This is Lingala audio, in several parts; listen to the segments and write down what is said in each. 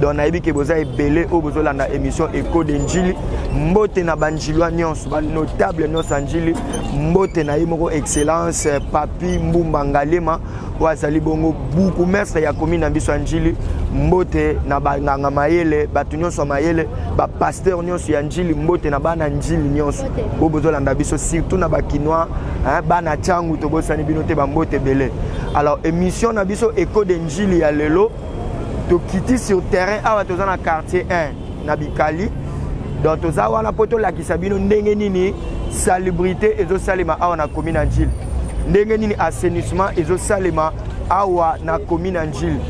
donc nayebi ke boza ebele oyo bozolanda émission eco de njili mbote na banjilwa nyonso banotable nyonso ya njili mbote na ye moko excellence eh, papi mbumba ngalema oyo azali bongo buku mestre ya komi na biso ya njili mbote na banganga mayele bato nyonso ya mayele bapaster nyonso ya njili mbote na bana njili nyonso oyo bozolanda biso surtout na bakinois eh, bana cangu tobosani bino te bambote ebele alors émission na biso eco de njili ya lelo tokiti sur terrain awa toza na quartier 1 na bikali donc toza wana mpo tolakisa bino ndenge nini salubrité ezosalema awa na commune ya njili ndenge nini assainissement ezosalema awa na commune ya njili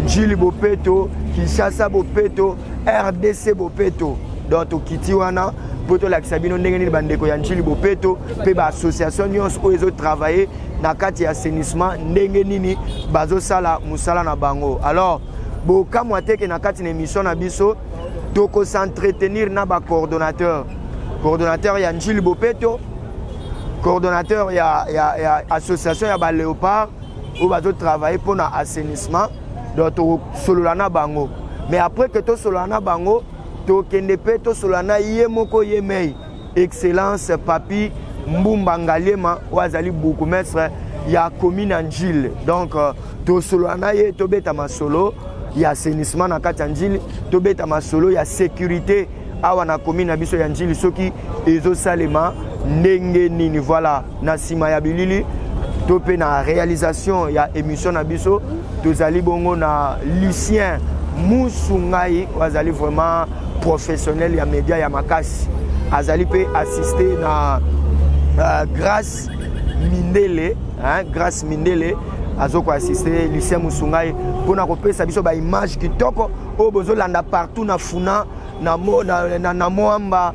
njili bopeto kinshasa bopeto rdc bopeto donc tokiti wana mpo tolakisa bino ndenge nini bandeko ya njili bopeto mpe baassociation nyonso oyo ezotravaille na kati ya assainissement ndenge nini bazosala mosala na bango alors bokamwa teke na kati na émission na biso tokosentretenir na bacoordonnateur coordonnateur ya njili bopeto coordonnateur ya, ya, ya association ya baléopard oyo bazotravaille mpo na assainissement donc tokosolola na bango mais après ke tosolola na bango tokende mpe tosolola na ye moko ye mei Excellence Papi Mbumba Ngaliema oyo azali bourgmestre ya commune ya Njile. Donc euh, tosolola na ye tobeta masolo ya assainissement na kati ya Njile, tobeta masolo ya sécurité awa na commune na biso ya Njili soki ezosalema ndenge nini voilà na nsima ya bilili to mpe na réalisation ya émission na biso tozali bongo na lucien musu ngai oyo azali vraiment professionnel ya média ya makasi azali mpe assiste na uh, grace mindele hein, grace mindele azo koassiste lucien musungai mpona kopesa biso baimage kitoko oyo bozolanda partout na funa na, mo, na, na, na moamba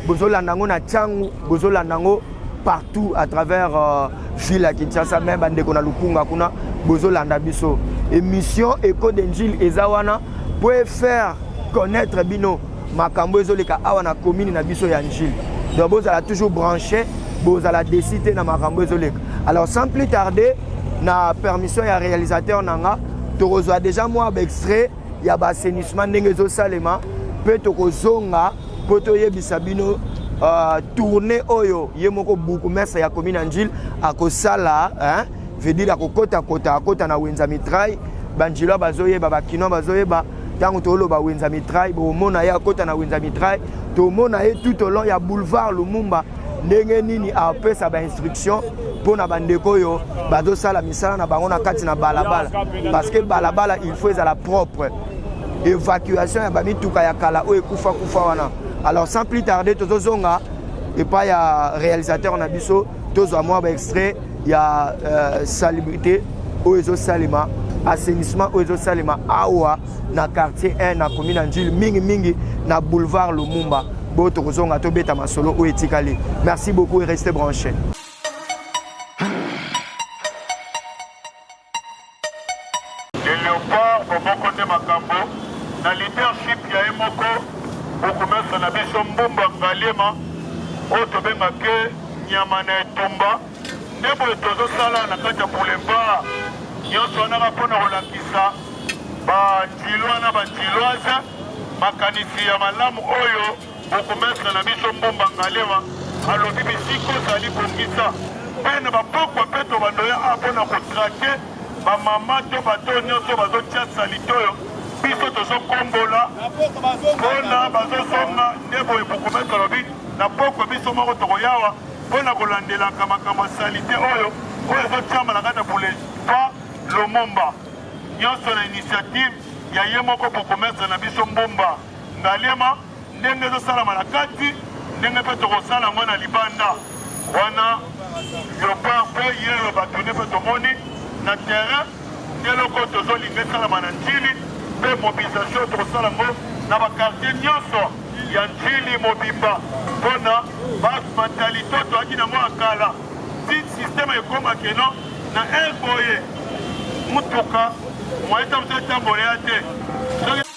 bozolanda yango na ntango bozolanda yango partout à travers euh, ville ya kinshasa me bandeko na lukunga kuna bozolanda biso émission eco de njile eza wana mpo efaire connaître bino makambo ezoleka awa na commune na biso ya njile donc bozala toujours branché bozala desi te na makambo ezoleka alors sans plus tarder na permission ya réalisateur na nga tokozwa déjà mwa baextrait ya baassainissement ndenge ezosalema mpe tokozonga mpo toyebisa bino uh, tourne oyo ye moko bourgmestre ya commune angile akosala hein? veut dire akokota kota akota na wenza mitrai banjila bazoyeba bakinois bazoyeba ntango toloba wenza mitrai bomona ye akota na wenza mitrai tomona ye tout au long ya boulevard lumumba ndenge nini apesa bainstruction mpo na bandeko oyo bazosala misala na bango na kati na balabala parce que balabala il faut ezala propre evacuation ya bamituka ya kala oyo ekufa kufa wana alors sans plus tarder tozozonga epai ya réalisateur na biso tozwa mwa baextrait ya euh, salubrité oyo ezosalema assainissement oyo ezosalema awa na quartier 1 na komi na njili mingimingi na boulevard lumumba boyo tokozonga tobeta masolo oyo etikali merci beaucoup et reste branché Le leopard boboko nde makambo na leadership ya ye moko bokomesa na biso mbumba ngaliema oyo tobenga ke nyama na etumba nde boye tozosala na kati ya boulevard nyonso wana ka mpo na kolakisa bandilwa na bandiloise makanisi ya malamu oyo Bourgmestre na biso Mbumba Ngalewa alobi bisika ozali bongisa mpe na bapokwa mpe tobando ya a mpo na kotrake bamama to bato nyonso bazotia salite oyo biso tozokombola mpona bazozonga nde boye bourgmestre alobi na pokwa biso moko tokoyawa mpo na kolandelaka makambo ya salite oyo oyo ezotyama na kati ya boulevard lomomba nyonso na initiative ya ye moko bourgmestre na biso mbumba Ngaliema ndenge ezosalama na kati ndenge mpe tokosala yango na libanda wana leopard mpe yeyo bato nde mpe tomoni na terrain nde eloko tozolinga esalama na ntili mpe mobilisation tokosala yango na bakartier nyonso ya ntili mobimba mpo na bamantalite oyo toyaki nango ya kala ti systeme ekoma keno na ere boye motuka moyetamso etambola ya te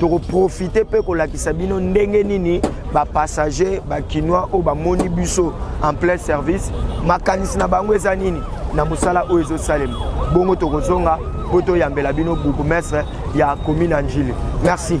tokoprofite mpe kolakisa bino ndenge nini bapassager bakinois oyo bamoni biso en plein service makanisi na bango eza nini na mosala oyo ezosalema bongo tokozonga mpo toyambela bino bourgmestre ya commune ya njili merci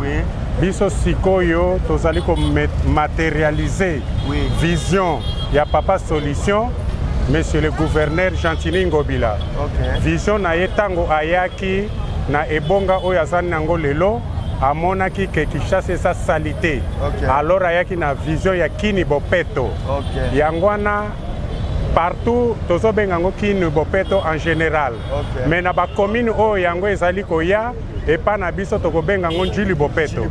Oui. biso sikoyo tozali komaterialize oui. vision ya papa solution monsieur le gouverneur gentini ngobila okay. vision na ye ntango ayaki na ebonga oyo azali nango lelo amonaki ke kinshasa eza salite okay. alors ayaki na vision ya kini bopeto okay. yango wana partout tozobenga yango kini bopeto en général okay. mais na bacommune oyo yango ezali koya epa na biso tokobenga yango njili bopeto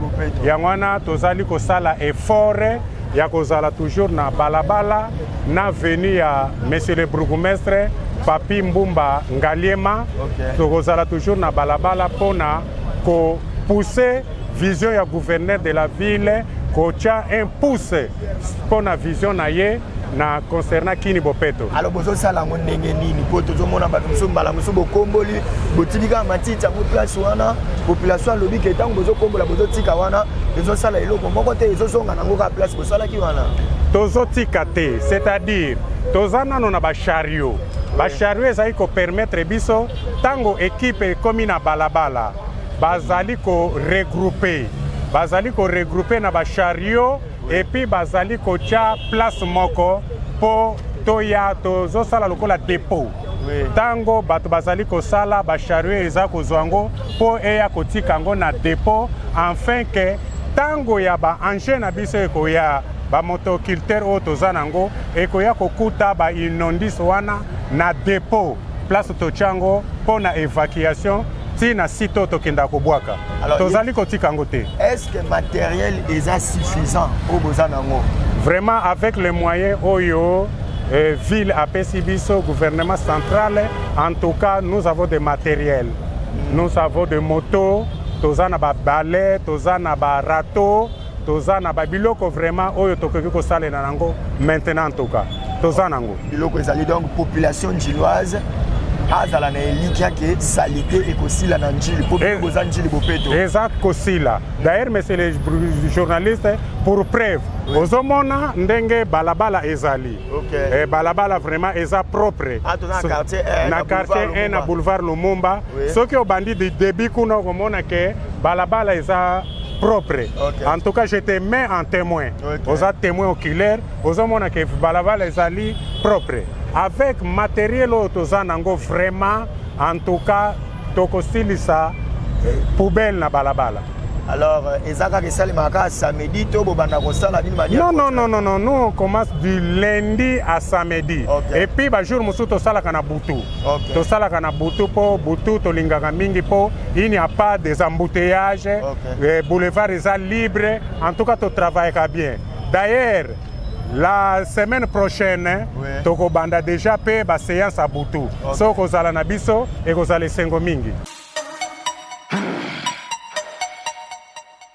yango wana tozali kosala efore ya kozala toujours na balabala na veni ya monsieur le bourgoumestre papi mbumba ngaliema okay. tokozala toujours na balabala mpo na kopousse vision ya gouverneur de la ville kotya un pouce mpo na vision na ye na concernant kini bopeto alors bozosala yango ndenge nini mpo tozomona bato mosusu mbala mosusu bokomboli botiki kaka matiti yango place wana population alobi ke ntango bozokombola bozotika wana ezosala eloko moko te ezozonga nango kaka place bosalaki wana tozotika te c'est-à-dire toza nano na bashario bashario ezali kopermettre biso ntango ekipe ekomi na balabala bazali koregroupe bazali koregroupe na bashario et puis bazali kotya place moko mpo toya tozosala lokola depot ntango bato bazali kosala bashario eza kozwa yango mpo eya kotika yango na depot enfin ke ntango ya baengin na biso ekoya bamotoculteur oyo toza na yango ekoya kokuta bainondis wana na depot place totya yango mpo na évacuation ti na site oyo tokendaka kobwaka tozali kotika yango te est ce que matériel eza suffisant oyo boza nango vraiment avec les moyens oyo euh, ville apesi biso gouvernement central en tout cas nous avons des matériels mm. nous avons des motos toza na babale toza na barato toza na babiloko vraiment oyo tokoki kosalela nango maintenant ntoka toza nango biloko ezali donc population njilloise azala na elikya ke salite ekosila na njili mpo eh, boza njili bopeto eza kosila d'ailleurs monsieur le journaliste pour preuve oui. ozomona ndenge balabala ezali okay. e, balabala vraiment eza propre ah, na so, quartier 1 na boulevard lumumba oui. soki obandi debut kuna okomona ke balabala eza propre okay. en tout cas je te mets en témoin okay. oza témoin oculaire ozomona ke balabala ezali propre avec matériel oyo toza nango vraiment en tout cas tokosilisa eh, poubelle na balabala alors euh, eza kaka esalemaka kaka samedi to bobanda kosala nini mania non non non non non nous on commence du lundi à samedi okay. et puis ba jour mosusu tosalaka na butu Okay. tosalaka na butu mpo butu tolingaka mingi mpo il n'y a pas des embouteillages okay. Eh, boulevard eza libre en tout cas totravaillaka bien d'ailleurs la semaine prochaine oui. tokobanda déjà mpe baseance ya butu okay. so kozala na biso ekozala esengo mingi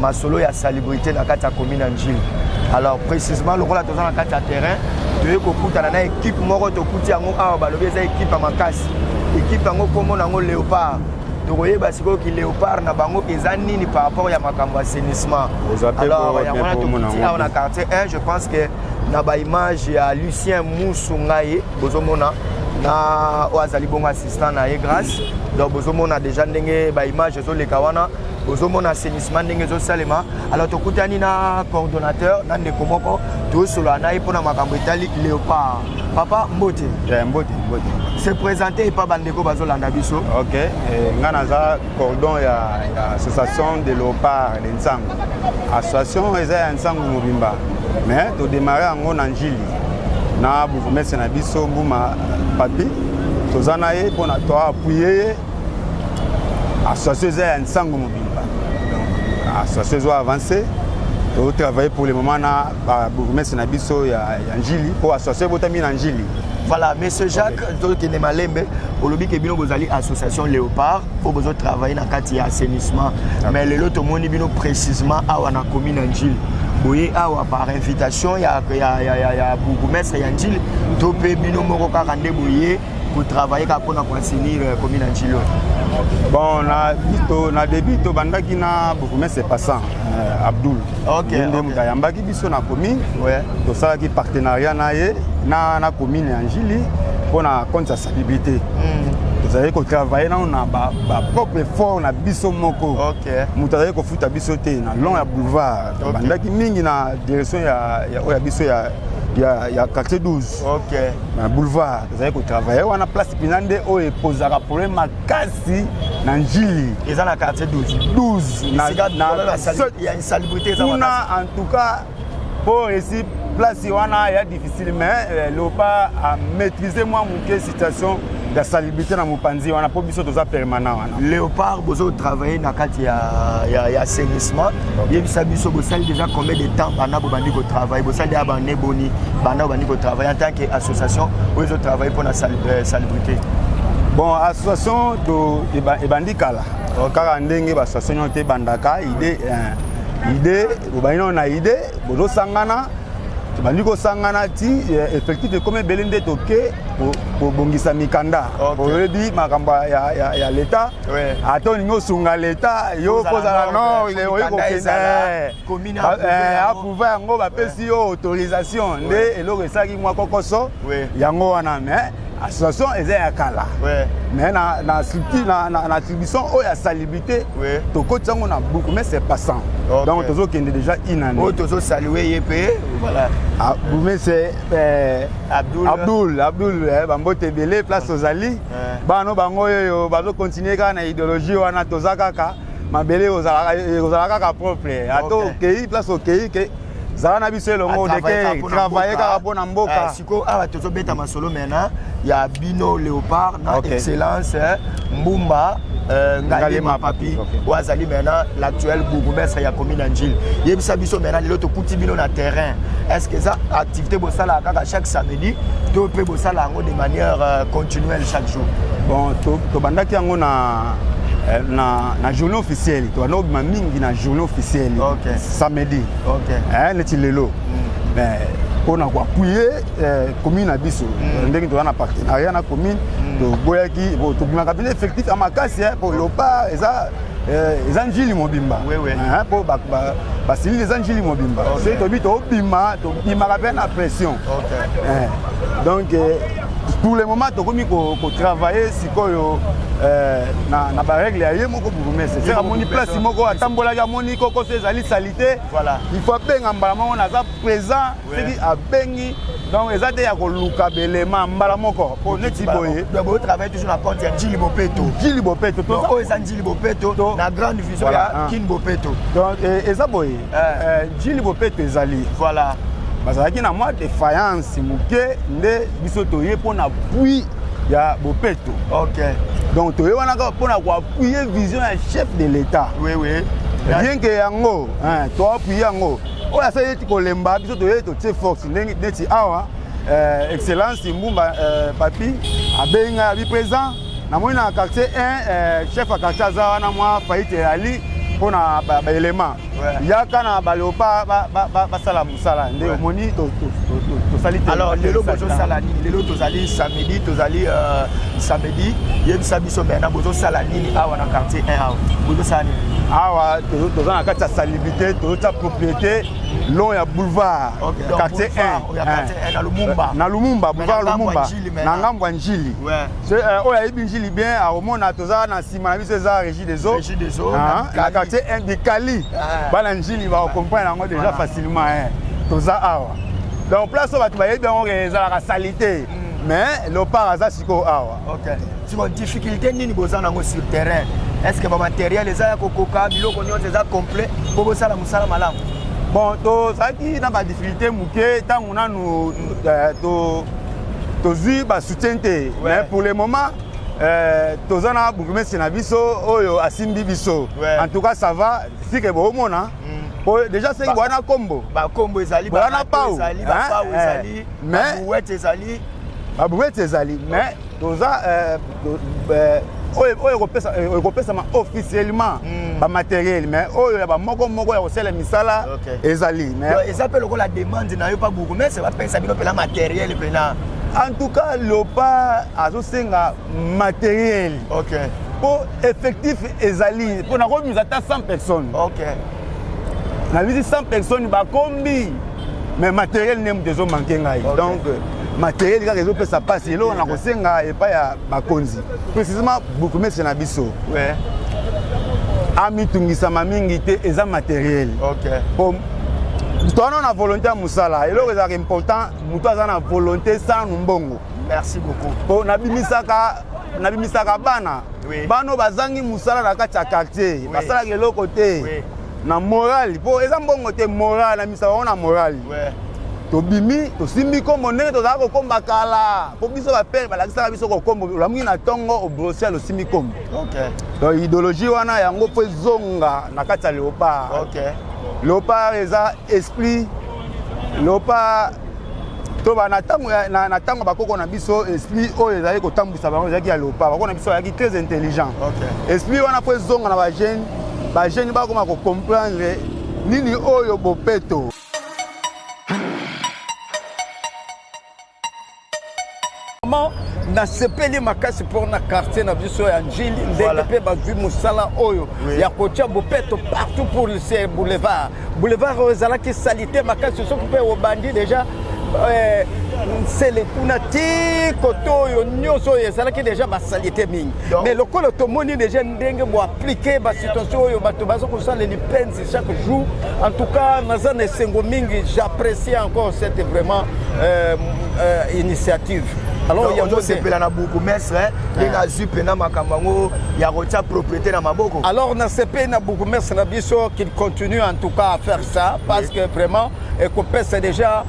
masolo ya salubrité na kati ya commune ya njili alors précisement lokola toza na kati ya terrain toyei kokutana na ekipe moko tokuti yango awa balobi eza ekipe ya makasi ekipe yango nkombo na yango léopard tokoyeba sikoyo ki léopard na bango eza nini par rapport ya makambo assainissement alors yango wana tokuti awa na quartier 1 je pense que na baimage ya lucien musu ngai bozomona na oyo azali bongo assistant na ye grâce donc bozomona déjà ndenge baimage ezoleka wana ozomona assainissement ndenge ezosalema alors tokutani na coordonnateur na ndeko moko tosolola na ye mpo na makambo etali léopard papa mbote eh, mbote mbote se présente epa bandeko bazolanda biso ok eh, ngai naza cordon ya, ya association de léopard de nsango association eza ya nsango mobimba mais todemare yango na njili na bourgmestre na biso mbuma papi toza na ye mpo na toapuye ye association eza ya nsango mobimba donc association ezo avance totravaille pour le moment na babourgmestre na biso ya, ya njili mpo association ebotami na njili voilà monsieur jacques okay. tokende malembe olobi ke bino bozali association léopard mpo bozotravaille na kati ya assainissement okay. mais lelo tomoni bino précisement awa na commune ya njili boye awa par invitation ya, ya, ya, ya, ya bourgmestre ya njili to mpe bino moko kaka nde boye kotravaille kaka mpona koinsinir euh, commune ya ncilo bon na bito na début tobandaki na bourgmestre passant euh, abdoul okay, nde moto okay. ayambaki biso na commune ouais. tosalaki partenariat na ye na, na commune ya njili mpo na compte ya salubrité mm. tozalaki kotravaille nano na bapropre ba effort na biso moko okay. moto azalaki kofuta biso te na long ya boulevard tobandaki okay. mingi na direction ya, ya, ya biso ya, ya, ya quartier 12 okay. na boulevard tozali kotravaille wana place mpena nde oyo ekozaka problème makasi na njili eza na quartier 12 12kuna en tout cas mpo esi place wana ya difficile mais euh, loba amaîtrise mwa moke situation ya salubrité na mopanzi wana mpo biso toza permanent wana Léopard bozo travailler na kati ya ya ya assainissement yebisa biso bosali déjà combien de temps bana bobandi ko travailler bosali ya bane boni bana bobandi ko travailler en tant que association oyo ezo travailler mpona euh, salubrité bon association to ebandi kala kaka ndenge ba association nyonso te ebandaka idée euh, idée bobandi nao na idée bozosangana tobandi kosangana ti euh, effectif ekomi ebele nde toke kobongisa mikanda oyebi makambo ya leta ata olingi osunga leta yo kozala no oyi kokendeaprouve eh, eh, yango bapesi yo autorisation nde eloko esalaki mwa kokoso yango wana mais association eza ya kala mais na, na, na, na, na attribution oyo ya salibité oui. tokotisa yango na buku mais c'est passant okay. donc tozokende déjà inane oyo tozosalue ye mpe voilà ah, mais c'est Eh, Abdul, Abdul, Abdul eh, bambote ebele place tozali eh. bano bango oyo bazokontinue kaka na ideologie wana toza kaka mabele ekozala kaka propre ata okei place okei zala na biso elongo deke travaille kaka mpo na mboka sikoyo awa tozobeta masolo mena ya bino leopard na okay. excellence eh, mbumba Euh, ngali mapapi oyo azali maintenant l'actuel bourgmestre ya commune ya njili yebisa biso maintenant lelo tokuti bino na terrain est ce que eza activité bosalaka kaka chaque samedi to mpe bosala yango de manière euh, continuelle chaque jour bon tobandaki yango na euh, na, na journée officielle tobanda kobima mingi na journée officielle okay. samedi okay. eh, neti lelo mm. mais mpo na koapuye Eh, commune na biso mm. ndenge toza na partenariat na commune mm. toboyaki tobimaka bino effectif ya makasi eh, po lopa eza eh, eza njili mobimba mpo basilili eza njili mobimba soki tobi tobima tobimaka mpe na pression donc pour le moment tokomi kotravaille sikoyo euh, na, na barègle ya ye moko bourgmestre seke amoni place moko atambolaki amoni kokoso ezali salite voilà. il faut abenga mbala moko naza présent soki abengi donc eza te ya koluka belema mbala moko mpo neti boye boyo travaille toujours na compte ya jili bopeto jili bopeto oyo eza njili bopeto na grande vision ya ah. kin bopeto donc eh, eza boye eh. eh, jili bopeto ezali voilà bazalaki na mwa defaillance moke nde biso toye mpo na pui ya bopeto ok donc toye wana kaka mpo na koapuye vision ya chef de l'état oui, oui. bien ke yango toapuye yango oyo asali eti kolemba biso toye totie force ndenge neti awa euh, excellence mbumba euh, papi abengi ngai abi présent namoni na quartier 1 euh, chef ya quartier aza wana mwa faite eyali mpo na baelema yaka na baleopa basala mosala nde omoni tosali alors lelo bozosala nini lelo tozali samedi tozali euh, samedi yebisa biso maintenant bozosala nini awa na quartier 1 awa bozosala nini awa toza na kati ya activité toyota propriété long ya boulevard okay, quartier 1 na lumumba boulevard lumumba na ngambo ya njili euh, oyo ayebi njili bien akomona toza na nsima na biso eza régie des eaux ah, na quartier 1 bikali ah. bana njili bakokomprendre yango déjà facilement eh. toza awa donc place oyo bato bayebi yango ezalaka salite mm. mais lopar aza sikoyo awa Okay. Siko difficulté nini boza nango sur terrain? Est-ce que ba matériel eza ya kokoka biloko nyonso eza complet po bosala mosala malamu? Bon, tozalaki na ba difficulté moke ntango nanu euh, to tozwi ba soutien te ouais. mais pour le moment euh, toza na bourgmestre na biso oyo asimbi biso ouais. en tout cas ça va sike boomona mm. déjà seki boya na kombo bakombo ezali boya na pau ezali mais brouette ezali ba brouette ezali mais toza euh, euh, oyo ekopesama euh, officiellement hmm. bamateriel mais oyo ya bamoko moko ya kosala misala ezali eza mpe lokola demande na yo mpa bourgmestre bapesa bino mpena materiel mpena en tout cas lopa azosenga materiel okay. mpo effectif ezali mpo nakomisa ata 100 personnes okay. na bisi 100 personnes bakombi mais matériel nde moto ezomanke ngai okay. donc euh, matériel kaka ezopesa mpasi eloko na kosenga epai ya bakonzi précisément bourgmestre na biso ouais. amitungisama mingi te eza matériel okay. po moto wana na volonté ya mosala eloko ezalaka important moto aza na volonté sanu mbongo merci beaucoup po nabimisaka nabimisaka bana oui. bano bazangi mosala na kati ya quartier oui. basalaka eloko te oui. na morali mpo eza mbongo te morali na misa bango na morali tobimi tosimbi nkombo ndenge tozala kokomba kala mpo biso bapere balakisaka biso kokombo olamuki na ntongo obrosial osimbi nkombo donc idéologie wana yango mpo ezonga na kati ya leopard leopard eza esprit lopa toba na ntango na ntango bakoko na biso esprit oyo ezalaki kotambwisa bango ezalaki ya lopa bakoko na biso azalaki très intelligent esprit wana mpo ezonga na bajeune bajeune bakoma kocomprendre nini oyo bopeto Vraiment, nasepeli makasi mpo na quartier na biso ya njili ndenge Voilà. mpe bazwi mosala oyo Oui. ya kotya bopeto partout pour ce boulevard boulevard oyo ezalaki salite makasi soki mpe obandi deja eh, nsele kuna ti kote oyo nyonso oyo ezalaki deja basalite mingi Donc- mais lokola tomoni deja ndenge boaplike basituation oyo bato baza kosala lipenza chaque jour. En tout cas, Nazan et Sengomingi, j'apprécie encore cette vraiment euh, euh, initiative. Alors, il y a beaucoup de la beaucoup mestre, il y a zupe na makambango, il y a rotia propriété na maboko. Alors, na CP na beaucoup mestre na biso qu'il continue en tout cas à faire ça parce que vraiment, et qu'on pèse déjà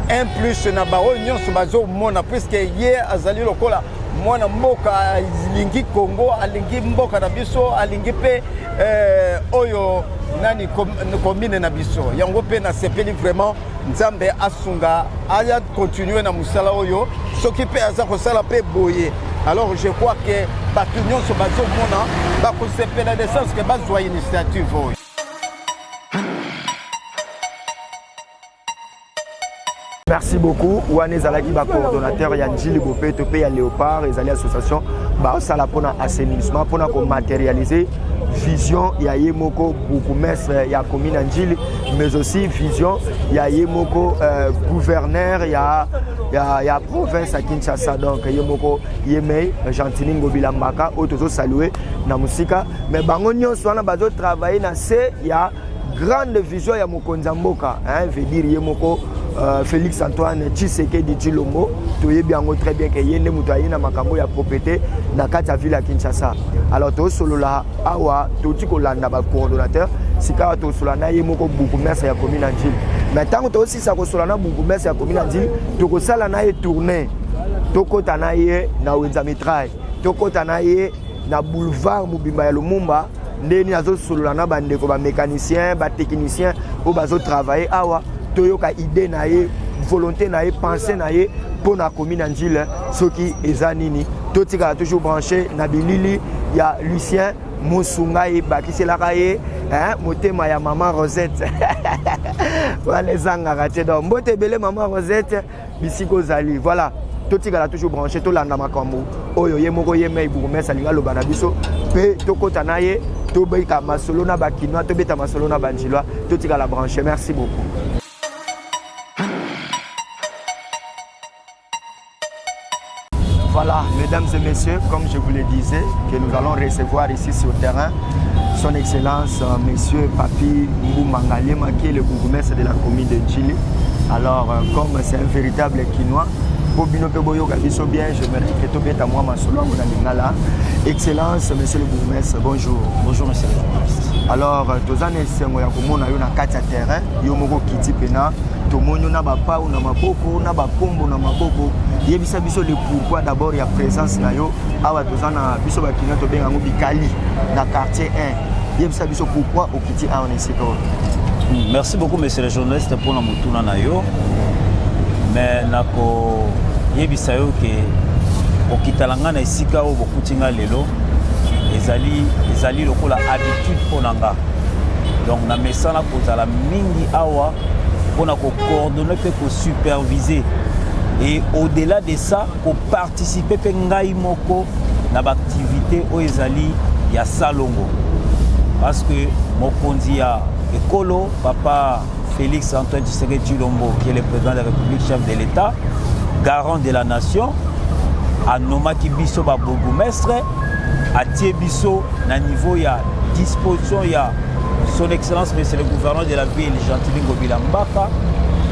un plus na bao nyonso bazo mona puisque ye azali lokola mwana mboka alingi Congo alingi mboka na biso alingi pe Eh, oyo nani commune na biso yango mpe nasepeli vraiment nzambe asunga aya continue na mosala oyo soki mpe aza kosala mpe boye alors je crois que bato nyonso bazomona bakosepela de sens ke bazwa initiative oyo merci beaucoup wana ezalaki bacoordonnateur ya njili bopeto mpe ya léopard ezali association baosala mpona assainissement mpona komaterialise vision ya ye moko bourgmestre ya commune ya njili mais aussi vision ya ye moko euh, gouverneur ya, ya, ya province ya kinshasa donc ye moko ye mei gentini ngobila mbaka oyo tozosalue na mosika mais bango nyonso wana bazotravaille na se ya grande vision ya mokonzi ya mboka hein, veut dire ye moko euh, Félix Antoine Tshisekedi Tshilombo toyebi yango très bien que ye nde moto aye na makambo ya propriété na kati ya ville ya Kinshasa alors tosolola awa touti kolanda ba coordonnateur sikawa tosolola na ye moko bourgmestre ya commune ya Ndjili mais ntango tosisa kosolola na bourgmestre ya commune ya Ndjili tokosala na ye tournée tokɔta na ye na wenza mitraille tokɔta na ye na boulevard mobimba ya Lumumba nde nini azosolola na bandeko bamécanicien batechnicien oyo bazotravaille awa toyoka idée na ye volonté na ye pensée na ye mpo na komi na njile soki eza nini totikala toujours branché na bilili ya lucien mosunga ye bakiselaka ye motema ya mama rosette wana ezangaka te donc mbote ebele mama rosette bisika ozali voilà totikala toujours branché tolanda makambo oyo ye moko ye mei bourgmestre alingi aloba na biso mpe tokɔta na ye tobeta masolo na bakinois tobeta masolo na banjilois totikala branché merci beaucoup Voilà, mesdames et messieurs, comme je vous le disais, que nous allons recevoir ici sur terrain son Excellence euh, Monsieur Papi Mbumangaliema, qui est le bourgmestre de la commune de Chili. Alors, euh, comme c'est un véritable Kinois, po bino mpe boyoka biso bien je me reke tobeta mwa masolo yango na lingala excellence monsieur le bourgmestre bonjour bonjour monsieur le bourgmestre alors euh, toza na esengo ya komona yo na kati ya terrain yo moko okiti mpena tomoni yo na bapau na maboko na bakombo na maboko yebisa biso le pourquoi d'abord ya présence na yo awa toza na biso bakina tobenga yango bikali na quartier 1 yebisa biso pourquoi okiti awa na esika oyo hmm, merci beaucoup monsieur le journaliste mpona motuna na yo mais nakoyebisa yo ke kokitala ngai na esika oyo bokuti ngai lelo ezali ezali lokola habitude mpo na ngai donc na mesana kozala mingi awa mpo na kocoordonne mpe kosupervise et au-delà de ça koparticipe mpe ngai moko na baaktivité oyo ezali ya salongo parce que mokonzi ya ekolo papa félix antoine tshisekedi tshilombo qui est le président de la république chef de l'état garant de la nation anomaki biso babourgoumestre atie biso na niveau ya disposition ya son excellence monsieur le gouverneur de la ville gentili ngobila mbaka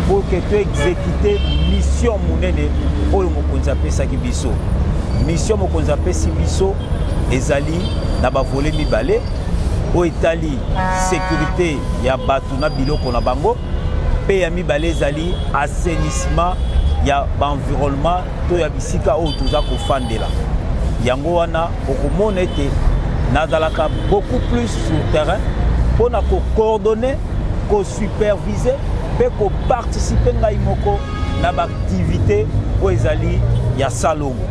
pour que toexécute mission monene oyo mokonzi apesaki biso mission mokonzi apesi biso ezali na bavole mibale oyo etali sécurité ya bato na biloko na bango mpe ya mibale ezali assainissement ya baenvironnement to ya bisika oyo toza kofandela. Yango wana okomona ete nazalaka beaucoup plus sur terrain mpo na kocoordonne kosupervise mpe koparticipe ngai moko na baaktivité oyo ezali ya salongo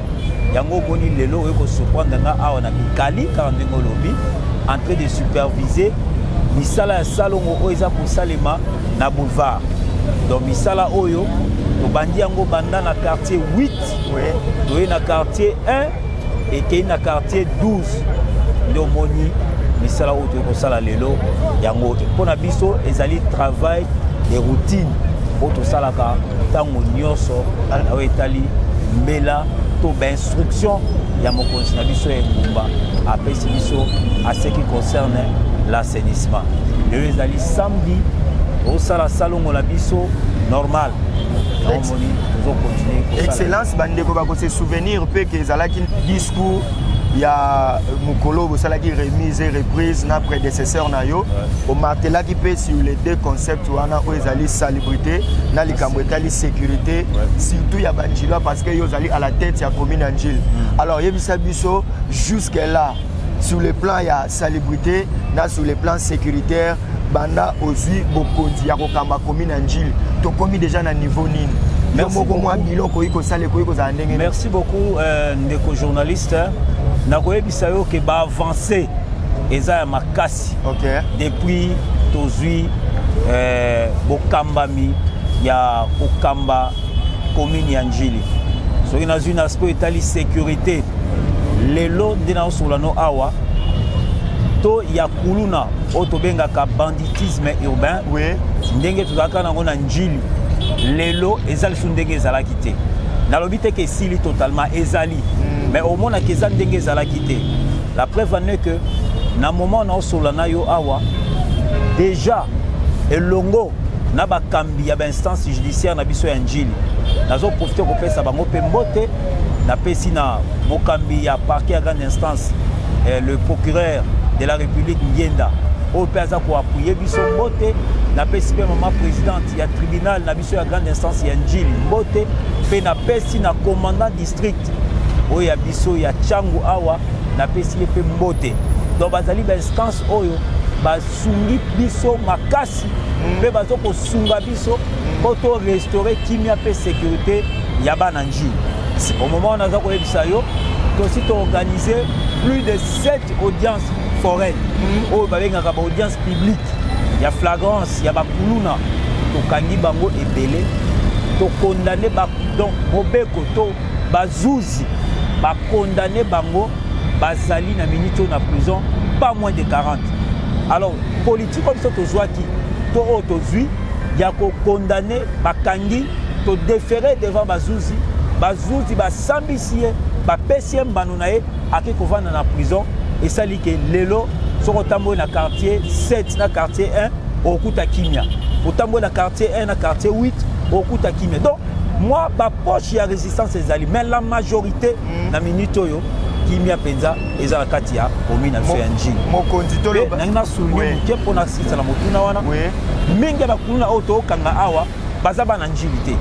yango omoni lelo oyo kosurprendre nga awa na mikali kaka ndenge olobi en train de superviser misala ya salongo oyo eza kosalema na boulevard donc misala oyo tobandi yango banda na quartier 8 toye na quartier 1 ekei na quartier 12 nde omoni misala oyo toyei kosala lelo yango mpo na biso ezali travail de routine oyo tosalaka ntango nyonso na oyo etali mbela to bainstruction ya mokonzi na biso ya engumba apesi biso aseki concerne la assainissement lelo ezali samedi osala salongo na biso normal omoni tozokontinue excellence bandeko bakose souvenir mpe ke ezalaki discours ya mokolo bosalaki remise et reprise na prédécesseur na yo omartelaki mpe sur les deux concepts wana oyo ezali salubrité na likambo etali sécurité surtout ya banjilwa parce que yo ozali à la tête ya commune ya njile hmm. alors yebisa biso jusque là sur le plan ya salubrité na sur le plan sécuritaire banda ozwi bokonzi ya kokamba komi na njili tokomi deja na niveau nini yo moko mwa bilo okoki kosala ekoki kozala ndenge merci beaucoup euh, ndeko journaliste nakoyebisa yo ke baavance eza ya makasi okay. depuis tozwi euh, bokambami ya kokamba commune ya Ndjili soki nazwi na aspect etali sécurité lelo nde naosolola no awa to ya kuluna oyo tobengaka banditisme urbain oui. ndenge tozalaka nango na njili lelo eza lisusu ndenge ezalaki te nalobi te ke esili totalement ezali mm. mais omonaka eza ndenge ezalaki te la preuve en est que na moment naosolola na yo awa déjà elongo na bakambi ya bainstance judiciaire na biso ya njili nazoprofite kopesa bango mpe mbote napesi na mokambi ya parquet ya grande instance eh, le procureur de la république ngienda oyo mpe aza koapuye biso mbote napesi mpe mama présidente ya tribunal na biso ya grande instance ya njili mbote mpe napesi na commandant district oyo ya biso ya changu awa napesi ye mpe mbote donc bazali bainstance oyo basungi biso makasi mpe mm. bazo kosunga biso mpo mm. to restaure kimia mpe sécurité ya bana njili au moment wana aza koyebisa yo tosi toorganize plus de 7 audience foraine mm. oyo babengaka baaudience publique ya flagrance ya bakuluna tokangi bango ebele tokondane donc mobeko to bazuzi bakondane bango bazali na minute oyo na prison pas moins de 40 alors politique oyo biso tozwaki to oyo tozwi ya kokondane bakangi todefere devant bazuzi bazuzi basambisi ye bapesi ye mbano na ye ake kovanda na prison esali ke lelo soki otamboli na quartier 7 na quartier 1 okuta kimia otamboli na quartier 1 na quartier 8 okuta kimia donc mwa bapoche ya résistance ezali mais la majorité na minute oyo kimia mpenza eza na kati ya komi na biso ya njili mokonzi toloba nangi nasulunge moke mpo nasilisa na motuna wana mingi ya bakuluna oyo tookanga awa baza bana njili te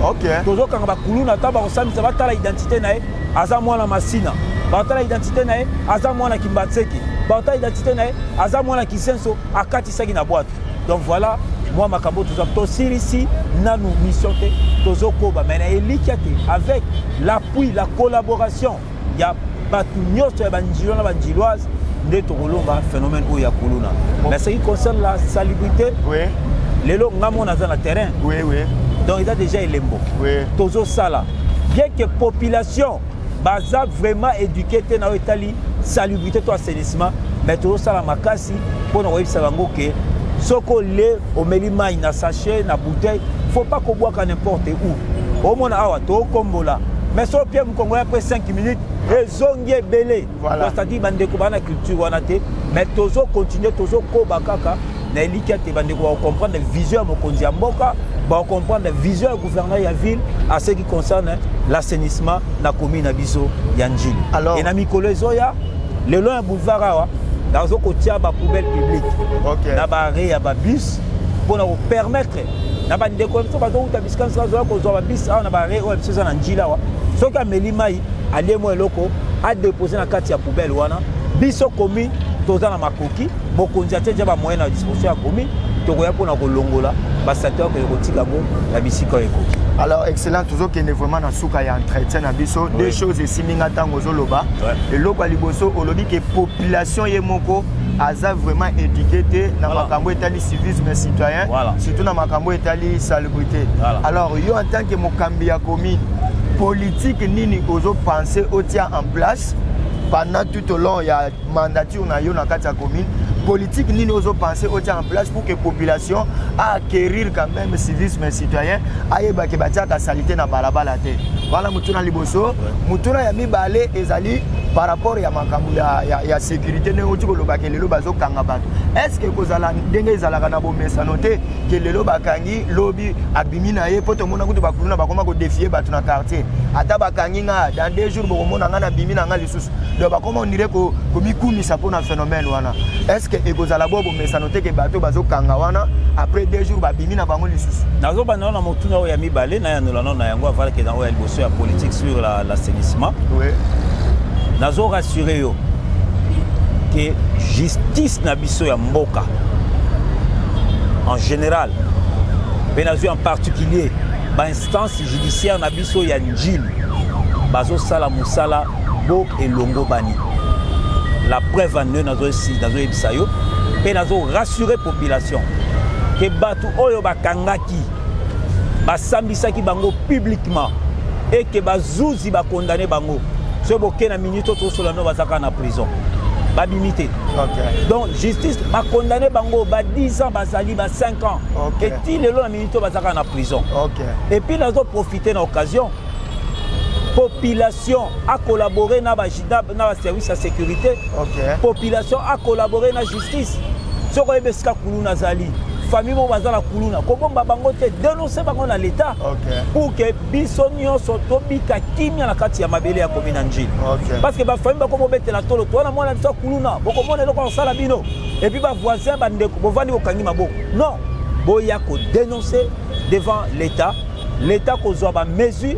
okay. tozokanga bakuluna ata bakosambisa batala identité na ye aza mwana masina batala identité na ye aza mwana kimbatseke batala identité na ye aza mwana kisenso akatisaki na bwato donc voilà mwa makambo toza tosilisi nanu mission te tozokoba mai na elikya te avec l'appui la collaboration ya bato nyonso ya banjilo na banjiloise nde tokolonga phénomène oyo ya kuluna mais ce qui concerne la salubrité oui. lelo nga mona aza na terrain oui, oui. donc eza déjà elembo oui. tozosala bien que population baza vraiment éduqué te na oyo etali salubrité to assainissement mais tozosala makasi mpo na koyebisa bango ke soki ole omeli mai na sachet na bouteille faut pas kobwaka n'importe où omona awa tokombola mais so opie mokongolai mpe 5 minutes ezongi ebele Voilà. C'est-à-dire bandeko bana culture wana te mais tozo continuer tozo koba kaka na elikya te bandeko bakocomprendre vision ya mokonzi ya mboka bakocomprendre vision ya gouverneur ya ville à ce qui concerne l'assainissement na commune na biso ya njili e na mikolo ezoya lelo ya boulevard awa nazo kotia bapoubelle publique okay. na baare ya babus mpo na kopermettre na bandeko ya biso bazowuta bisika nso bazoya kozwa babus awa na baare oyo ya biso eza na njila awa soki ameli mai alie mwa eloko adepose na kati ya poubelle wana biso komi toza na makoki mokonzi atie ja bamoyen na disposition ya komi tokoya mpona kolongola basato yakoya kotika yango na bisika oyo ekoki alors excellent tozokende vraiment na suka ya entretien na biso oui. deux choses esimbi nga ntango ozoloba ouais. eloko ya liboso olobi ke population ye moko aza vraiment éduqué te na voilà. makambo etali civisme citoyen voilà. surtout na makambo etali salubrité voilà. alors yo en tant que mokambi ya commune politique nini ozo penser otia en place pendant tout au long ya mandature na yo na kati ya commune politique nini ozo penser otia en place pour que population a acquérir quand même civisme citoyen ayeba ke batiaka salite na balabala te wana motuna liboso motuna ya mibale ezali par rapport ya makambo ya, ya, ya sécurité ndenge oti kolobaka lelo bazokanga bato est ce que kozala ndenge ezalaka na bomesano te ke lelo bakangi lobi abimi na ye mpo tomona kutu bakuluna bakoma kodefie bato na quartier ata bakangi nga dans deux jours bokomona nga nabimi na nga lisusu donc bakoma ondire komikumisa mpo na phénomène wana est ce que ekozala bo bomesano te ke bato bazokanga wana après deux jours babimi na bango lisusu nazobanda na motuna oyo ya mibale nayanolano na yango avalake na oyo ya liboso ya politique sur l'assainissement oui. nazo rassure yo ke justice na biso ya mboka en général mpe nazwi en particulier bainstance judiciaire na biso ya njili bazosala mosala bo elongobani la preuve en eux nazoyebisa yo mpe nazo rassurer population ke bato oyo bakangaki basambisaki bango publiquement et ke bazuzi bakondane bango soki boke na minute oyo tosola no bazaka na prison babimi te Okay. donc justice bakondane bango ba 10 ans bazali ba 5 ans okay. eti lelo na minute oyo bazalaka na prison okay. epuis nazo profite na occasion population a collaboré na bajidab na baservice ya sécurité okay. population a collaboré na justice soki oyebi esika kuluna azali famille moko baza na kuluna kobomba bango te denonse bango na leta okay. pour que biso nyonso tobika kimia na kati ya mabele ya komi na njili okay. parce que bafamille bako bobetela tolo to wana mwana biso akuluna bokomona eloko akosala bino epuis bavoisin bandeko bovandi bokangi maboko non boya kodenonce devant l'état l'état kozwa bamesure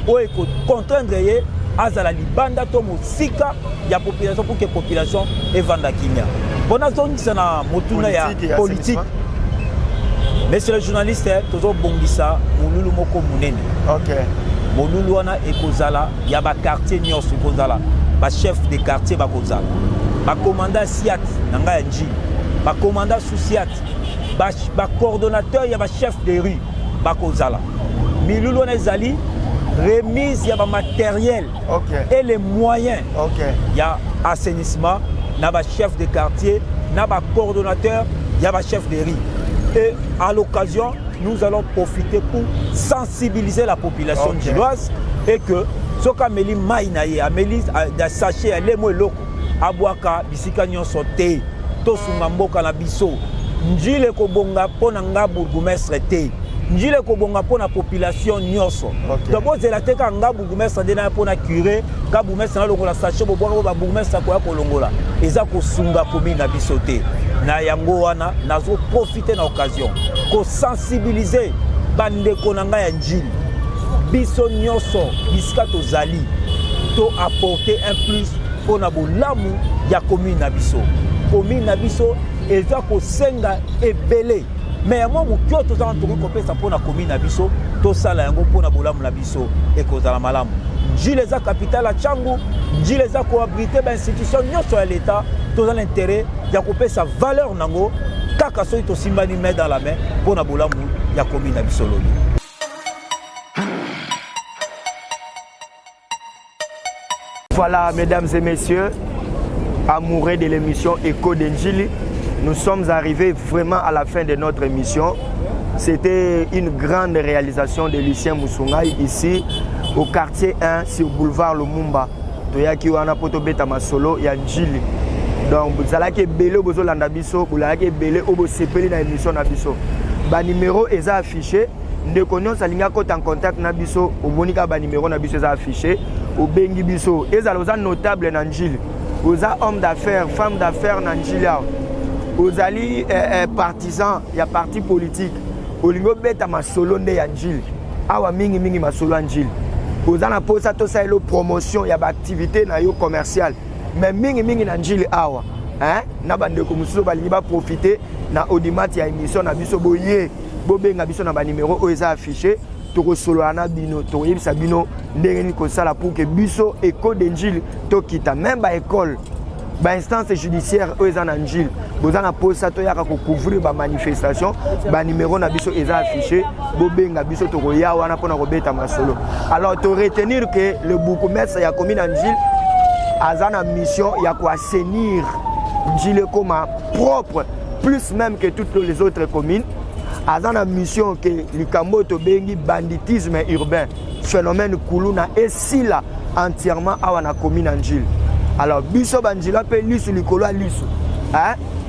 oyo ekocontraindre ye azala libanda to mosika ya population pour que population evanda kimia mpo nazongisa na motuna ya politike Monsieur le journaliste, tozo bongisa mululu moko munene. OK. Mululu wana ekozala ya ba quartier nyonso ekozala ba chef de quartier bakozala. Ba commandant Siat na ngai ya Nji. Ba commandant Susiat. Ba, ba coordonnateur ya ba chef de rue bakozala. Milulu wana ezali remise ya ba matériel okay. et les moyens okay. ya assainissement na ba chef de quartier na ba coordonnateur ya ba chef de rue et à l'occasion nous allons profiter pour sensibiliser la population okay. gilloise et que soki ameli mai na ye ameli da sachet ya lemo eloko abwaka bisika nyonso te tosunga mboka na biso njile kobonga mpo na nga bourgoumestre te njile kobonga mpo na population nyonso okay. donc bozela te kaka nga bourgmestre nde naya mpo na cure ka bourgmestre nalongola sache bobwaka oyo babourgmestre akoya kolongola eza kosunga commune na biso te na yango wana nazoprofite na occasion kosensibilize bandeko na ngai ya njili biso nyonso bisika tozali to apporter un plus mpo na bolamu ya commune na biso commune na biso eza kosenga ebele me ya mwa moke oyo toza wana tokoki kopesa mpo na komi na biso tosala yango mpo na bolamu na biso ekozala malamu njila eza kapitale ya cangu njila eza koabrite bainstitution nyonso ya leta toza na intere ya kopesa valeur nango kaka soki tosimbani mai dans la main mpo na bolamu ya komi na biso lobi Voilà, mesdames et messieurs, amoureux de l'émission Echo de Njili, nous sommes arrivés vraiment à la fin de notre émission. C'était une grande réalisation de Lucien Moussoungaï ici au quartier 1 sur boulevard Lumumba. toyaki wana mpo tobeta masolo ya njili donc bozalaki ebele oyo bozolanda biso bolalaki ebele oyo bosepeli na émission na biso banimero eza affiché ndeko nyonso alingi akota en contact na biso omoni kaka banimero na biso eza affiche obengi biso ezala oza notable na njili oza homme d'affaires femme d'affaires na njili awa ozali eh, eh, partisan ya parti politique olingi obeta masolo nde ya njili awa mingimingi masolo ya njili oza na mposa tosalelo promotion ya baaktivité na yo commerciale mais mingimingi na njili awa eh, na bandeko mosusu balingi baprofite na audimat ya émission na biso boye bobenga biso na banimero oyo eza affiche tokosolola na bino tokoyebisa bino ndenge nini kosala pour ke biso eko de njili tokita meme baekole bainstance judiciaire oyo eza na njili boza na mposa toyaka kocouvrir bamanifestation banimero na biso eza affiche bobenga biso tokoya wana mpona kobeta masolo alors toretenir ke le bourgmestre ya commune ya njili aza na mission ya koassainir njili ekoma propre plus même que toutes les autres communes aza na mission ke likambo oyo tobengi banditisme urbain phénomène kuluna esila entièrement awa na commune ya njili alors biso banjila mpe lisu likolo ya lisu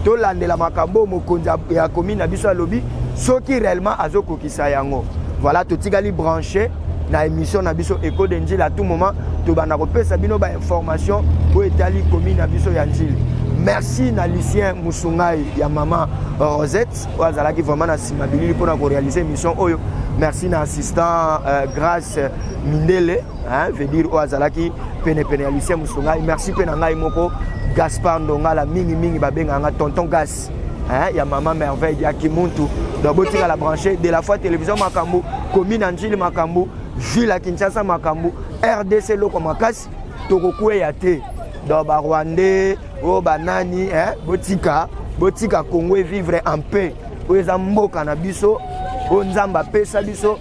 tolandela makambo oyo mokonzi ya commune na biso alobi soki réellement azokokisa sa yango voilà totikali branche na émission na biso eco de njili à tout moment tobanda kopesa bino ba information oyo etali komi na biso ya njili merci na lucien musungai ya mama euh, rosette oyo azalaki vraiment na nsima bilili mpona korealize émission oyo merci na assistant euh, grace mindele hein, veut dire oyo azalaki penepene ya lucien musungai merci mpe na ngai moko gaspard ndongala mingimingi babengaka nga tonton gas hein, ya mama merveille ya kimuntu donc botikala branche de la foi télévision makambo commune ya njili makambo ville ya kinshasa makambo rdc eloko makasi tokokweya te donc barwandais oyo oh, banani hein, botika botika congo evivre en paix oyo eza mboka na biso oyo nzambe apesa biso